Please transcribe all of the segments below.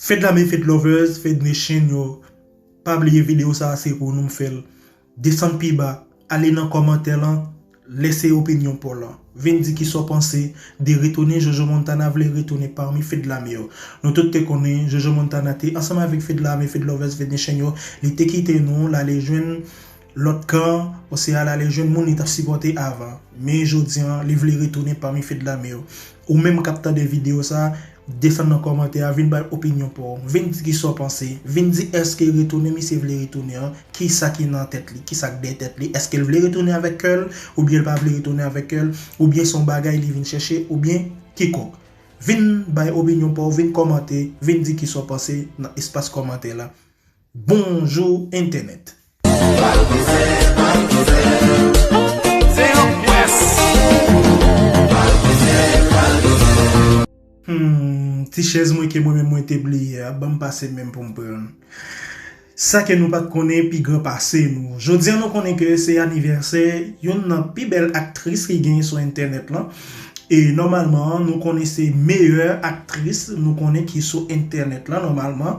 Fed la me fed lovers fed nation yo pa bliye video sa se pou nou m fel desann pi ba ale nan komantè lan lèse opinyon paw lan vin di kisa w panse de retounen jojo montana vle retounen parmi fed la me yo nou tout te konnen jojo montana te ansanm avek fed la me fed lovers fed nation yo li te kite nou lale jwenn Lòt kan an, Osea al ale jwenn moun li t ap sipòte avan, men jodi a, li vle retounen pami fè de lame yo. Ou menm k ap tande videyo sa, desann nan kòmantè a, vin bay opinyon pa w. Vin di kisa w panse. Vin di èske retounen misye vle retounen an, kisa ki nan tèt li, kisa k dèyè tèt li. Èske l vle retounen avèk kè l, oubyen l pa vle retounen avèk kè l, oubyen se yon bagay li vin chèche, oubyen kikòk. Vin bay opinyon pa w, vin kòmante, vin di kisa w panse nan espas kòmantè la. Bonjou entènèt! Humm ti chèz mwen ke mwen menm mwen te bliye a banm pase menm poum prann sa ke nou pat konnen pi gran pase nou jodia nou konnen ke se anivèsè youn nan pi bèl aktris ki genyen sou entènèt lan e nòmalman nou konnen se meyè aktris nou konnen ki sou entènèt lan nòmalman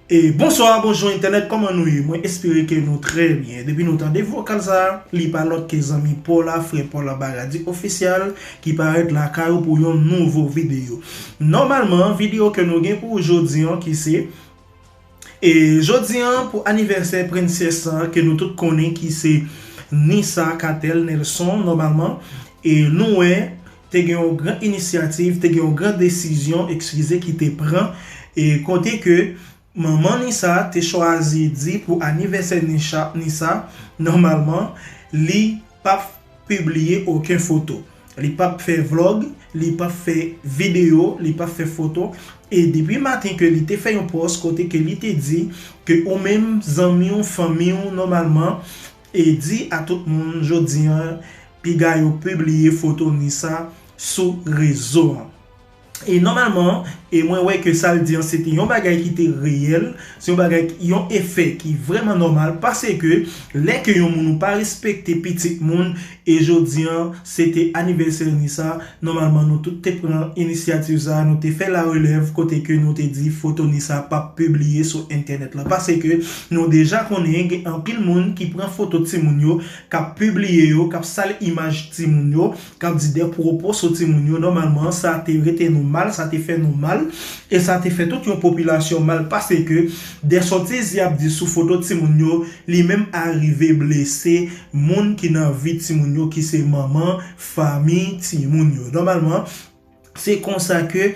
Bonsoir bonjour internet koman nou ye mwen espere ke nou trè byen depi nou tande vokal sa li pa lòt ke zanmi paw la frè paw la baradi official ki parèt lakay ou pou yon nouvo video nòmalman video ke nou gen pou ou jodi an ki se e jodi an pou anivèsè princess lan ke nou tout konnen ki se Nissa Catel Nelson nòmalman e nou wè Te gen yon gran inisyativ, te gen yon gran desizyon, ekskize, ki te pran, e kote ke manman Nisa te chwazi di pou anivèsè Nisha, Nisa, nòmalman, li p ap pibliye oken foto. Li p ap fè vlog, li p ap fè videyo, li p ap fè foto. E depi maten ke li te fè yon pòs kote ke li te di ke ou menm, zanmi w, fanmi w, nòmalman, E di a tout moun jodi an piga yo pibliye foto Nisa sou rezo an. E nòmalman e mwen wè ke sa l di an se te yon bagay ki te reyèl, se yon bagay yon efè ki vrèman nòmal paseke lè ke yon moun ou pa respekte pitit moun E jodi an, se te anivèsè ni sa, nòmalman nou tout te pran inisyativ sa, nou te fè la relèv kote ke nou te di foto ni sa pap pibliye sou entènèt lan pase ke nou deja konnen gen anpil moun ki pran foto timoun yo kap pibliye yo, kap sal imaj timoun yo, kap di dè pwopo sou timoun yo, nòmalman sa te rete nou mal, sa te fè nou mal, e sa te fè tout yon popilasyon mal pase ke dè sotiz yap di sou foto timoun yo, li menm arive blese. Moun ki nan vi timoun yo ki se manman fanmi timoun yo. Nòmalman, se konsa ke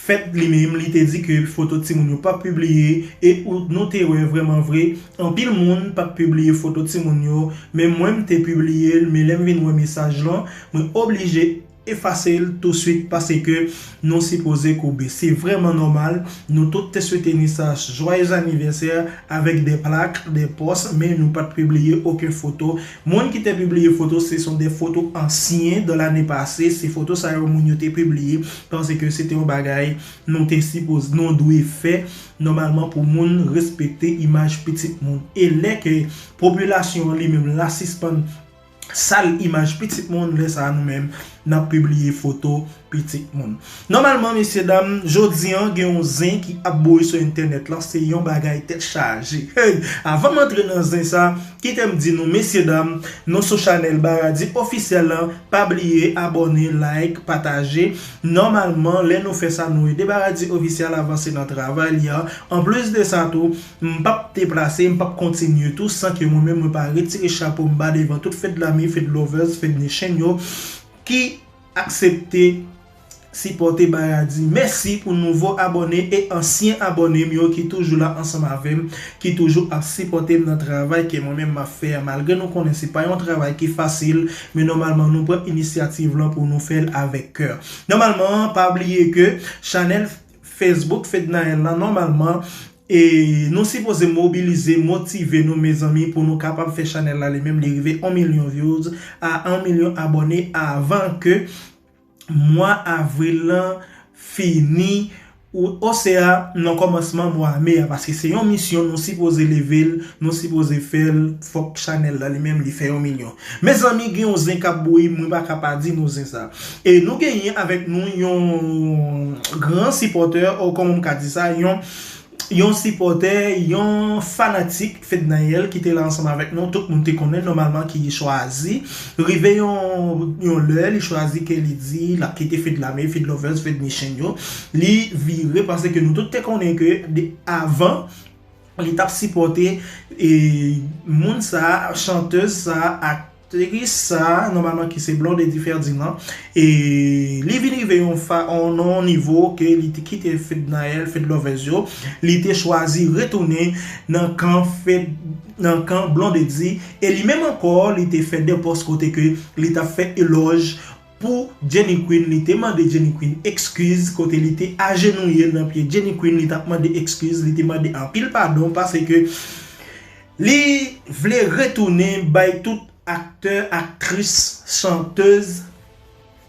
fèt li menm li te di ke foto timoun yo pap pibliye e nou te wè vrèman vre anpil moun pat pibliye foto timoun yo menm mwen m te pibliye l men lè m vin wè mesaj lan mwen oblije Efase l tou swit paseke nou sipoze koube. Se vrèman nòmal, nou tout te swete Nisach jwayez anivèsè avèk de plak, de pòs men nou pat pibliye oken foto. Moun ki te pibliye foto se son de foto ansyen de lane pase, se foto sa yo moun yo te pibliye panse ke se te yon bagay nou te sipoze, nou dwe fè nòmalman pou moun respekte imaj pitit moun. E lè ke popilasyon an li menm la sispann. Sal imaj pitit moun lè sa nou menm nap pibliye foto pitit moun. Nòmalman mesye dam jodi an gen yon zen ki ap boure sou entènèt lan se yon bagay tèt chaje hey avan m antre nan zen sa kite m di nou mesye dam nou sou chanèl Baradi Officiel lan pa bliye abòne like pataje nòmalman lè nou fè sa nou ede Baradi Officiel avanse nan travay li an anplis de sa tou M pap deplase, m pap kontinye tou san ke mwen menm mwen pa retire chapo m ba devan tout Fedlami, Fedlovers, Fednation yo ki aksepte sipòte Bayadi. Mèsi pou nouvo abòne e ansyen abòne m yo ki toujou la ansanm avè m, ki toujou ap sipòte m nan travay ke mwen menm m ap fè a malgre nou konnen se pa yon travay ki fasil men nòmalman nou pran inisyativ lan pou nou fè l avèk kè. Nòmalman pa bliye ke chanèl. Facebook Fednaelle lan nòmalman e nou sipoze mobilize motive nou mezanmi pou nou kapab fè chanèl la li menm li rive 1 milyon vyouz a 1 milyon abòne avan ke mwa avril lan fini osea nan kòmansman mwa me a paske se yon misyon nou sipoze level nou sipoze fèl fòk chanèl la li menm li fè 1 milyon Mezanmi gen yon zen kap bouyi mwen pa ka pa di nou zen sa. E nou genyen avèk nou yon gran sipòtè o kòman m ka di sa yon yon sipòtè yon fanatik Fednaelle ki te la ansanm avèk nou tout moun te konnen nòmalman ki chwazi rive yon yon lè li chwazi ke li di lap kite Fedlame, Fedlovers, Fedmichenne yo li vire paske nou tout te konnen ke avan li tap sipòte moun sa, chanteuse sa, aktris sa, nòmalman ki se Blondedy Ferdinand, e li vin rive yon fa, nan yon nivo ke li te kite Fednaelle, Fedlovers yo, li te chwazi retounen nan kan Fed, nan kan Blondedy, e li menm ankò li te fè 2 pòs kote ke li tap fè elòj. Pou Jenny Queen li te mande Jenny Queen ekskiz kote li te ajenouye nan pye Jenny Queen li tap mande ekskiz li te mande anpil padon pase ke li vle retounen bay tout aktè aktris chantez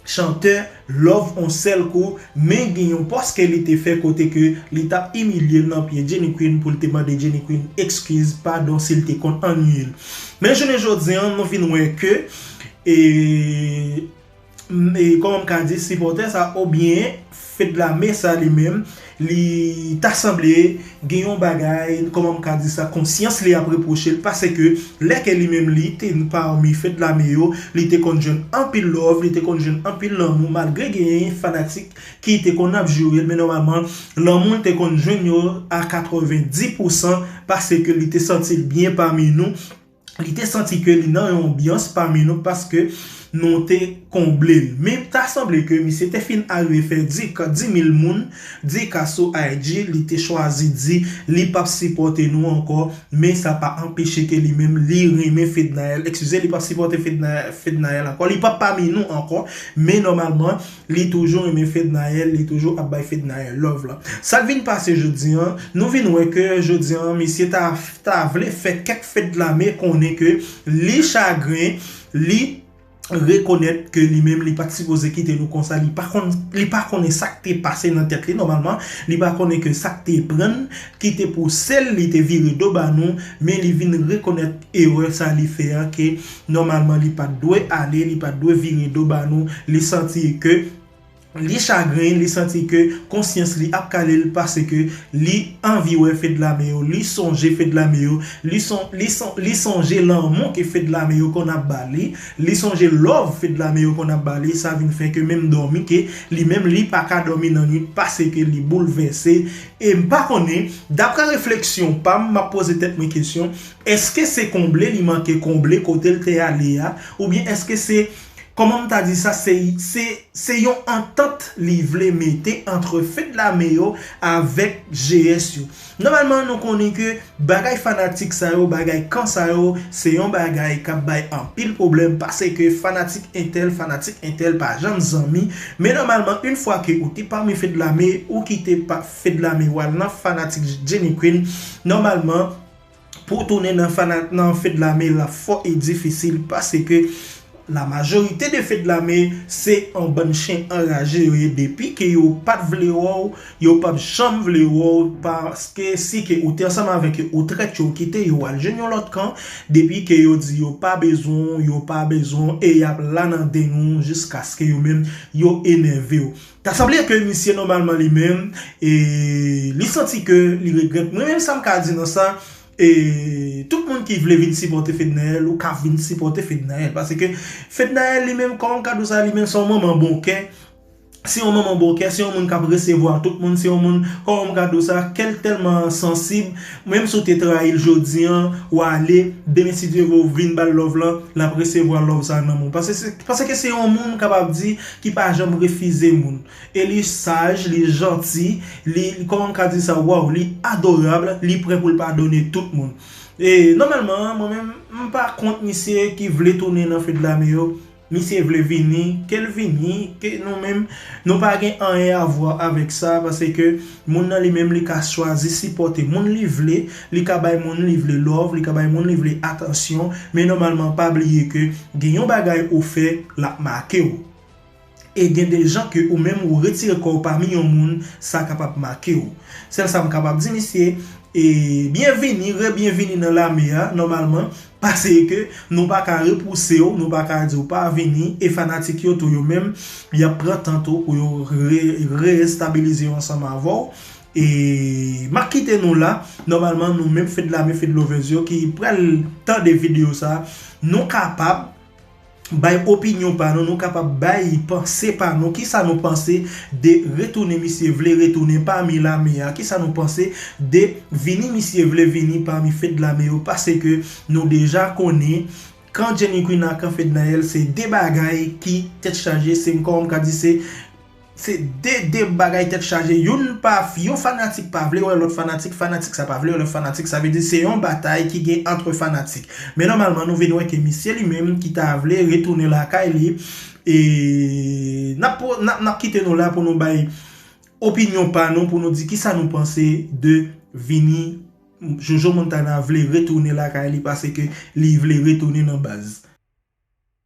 chantè love on sèl kou men gen yon pòs ke li te fè kote ke li tap imilye nan pye Jenny Queen pou li te mande Jenny Queen ekskiz padon si li te konn annwiye l men jounen jodi an nou vin wè ke E kòman m ka di sipòtè sa obyen Fedlame sa li menm li ta sanble gen yon bagay kòman m ka di sa konsyans li ap repwoche l paseke lè ke li menm li te pami Fedlame yo li te konn jwenn anpil love li te konn jwenn anpil lanmou malgre gen fanatik ki te konn ap joure l men nòmalman lanmou l te konn jwenn yo a 90 pousan paseke li te santi l byen pami nou Li te santi ke li nan yon anbyans pami nou paske nou te konble l. Men ta sanble ke misye te fin arive fè di ka 10,000 moun di ka sou IG, li te chwazi di li pap sipòte nou ankò, men sa pa anpeche ke li menm li renmen Fednaelle, ekskize li pap sipòte Fednaelle ankò, li pap pami nou ankò, men nòmalman. Li toujou renmen fednaelle li toujou ap bay fednaelle love la sak vin pase jodi an nou vin wè ke jodi an misye ta ta vle fè kèk fedlame konnen ke li chagren li rekonèt ke li menm li pat sipoze kite nou konsa li pa konn li pa konnen sak te pase nan tèt li nòmalman li pa konnen ke sak te prann ki te pousel li te vire do ba nou men li vin rekonèt erè sa li fè an ke Nòmalman li pat dwe ale, li pat dwe vire do ba nou, li santi ke li chagren, li santi ke konsyans li ap kale l paske li anvi wè Fedlame yo, li sonje Fedlame yo, li sonje lanmou ke Fedlame yo konn ap ba li, li sonje love Fedlame yo konn ap ba li, sa vin fè ke menm dòmi ke li menm li pa ka dòmi nan nwit paske li boulvèse, e m pa konnen, daprè refleksyon pa m, m ap poze tèt mwen kesyon, Eske se konble li manke konble kote l te ale a oubyen eske se kòman m ta di sa se se yon antant li vle mete antre fedlame yo avèk GS yo nòmalman nou konnen ke bagay fanatik sa yo bagay kan sa yo se yon bagay k ap bay anpil pwoblèm pase ke fanatik entèl fanatik entèl pa janm zanmi men nòmalman yn fwa ke ou te pami fedlame ou kite fedlame w al nan fanatik Jenny Queen nòmalman Pou w tounen nan fana nan feu de lame la fò e difisil paske la majorite de feu de lame se yon bann chen anraje yo ye depi ke yo pat vle wè w yo pap janm vle wè w paske si ke ou te ansanm avèk yo ou trèt yo kite yo al jwenn yon lòt kan depi ke yo di yo pa bezwen w yo pa bezwen w e yap la nan deng ou jiskaske yo menm yo enève w. Ta sanble ke misye nòmalman li menm e li santi ke li regrèt mwen menm sa m ka di nan sa e tout moun ki vle vin sipòte Fednaelle ou ka vin sipòte Fednaelle paske Fednaelle li menm kòman m ka di w sa li menm se yon manman bon kè se yon manman bon kè se yon moun k ap resevwa tout moun se yon moun kòman m ka di w sa kè l tèlman sansib menm si w te trayi l jodi an w ale demen si Dye vle w vin ba l love lan l ap resevwa love sa nan men w paske se yon moun m kapab di ki pa janm refize moun e li saj li janti li kòman m ka di sa waw li adorab li prè pou l padone tout moun e nòmalman mwen menm m pa kont misye ki vle tounen nan fedlame yo misye vle vini ke l vini ke nou menm nou pa gen anyen avwa avèk sa pase ke Moun nan li menm li ka chwazi sipòte moun li vle, li ka bay moun li vle love, li ka bay moun li vle atansyon, men nòmalman pa bliye ke gen yon bagay ou fè lap make w. E gen de jan ke ou menm ou retire kò w pami yon moun sa kapab make w. Sèl sa m kapab di misye, e byenvini, rebyenvini nan lame a, nòmalman Paseke nou pa ka repouse w, nou pa ka di w pa vini, e fanatik yo tou yo menm, y ap pran tan tou pou yo re-estabilize yo ansanm avè w. E m ap kite nou la, nòmalman nou menm Fedlame Fedlovers yo ki pral tande videyo sa, nou kapab. Bay opinyon pa nou, nou kapab bay panse pa nou, kisa nou panse de retounen misye vle retounen pami lame a, kisa nou panse de vini misye vle vini pami fedlame yo, paseke nou deja konnen kan jenny queen ak kan fednaelle se 2 bagay ki tèt chaje se m kòman m ka di se. Se de de bagay tèt chaje youn pa yon fanatik pa vle wè lòt fanatik fanatik sa pa vle wè lòt fanatik sa vle di se yon batay ki gen antre fanatik men nòmalman nou vin wè ke misye li menm ki ta vle retounen lakay li e nap nap kite nou la pou nou bay opinyon pa nou pou nou di kisa nou panse de vini Jojo Montana vle retounen lakay li pase ke li vle retounen nan baz.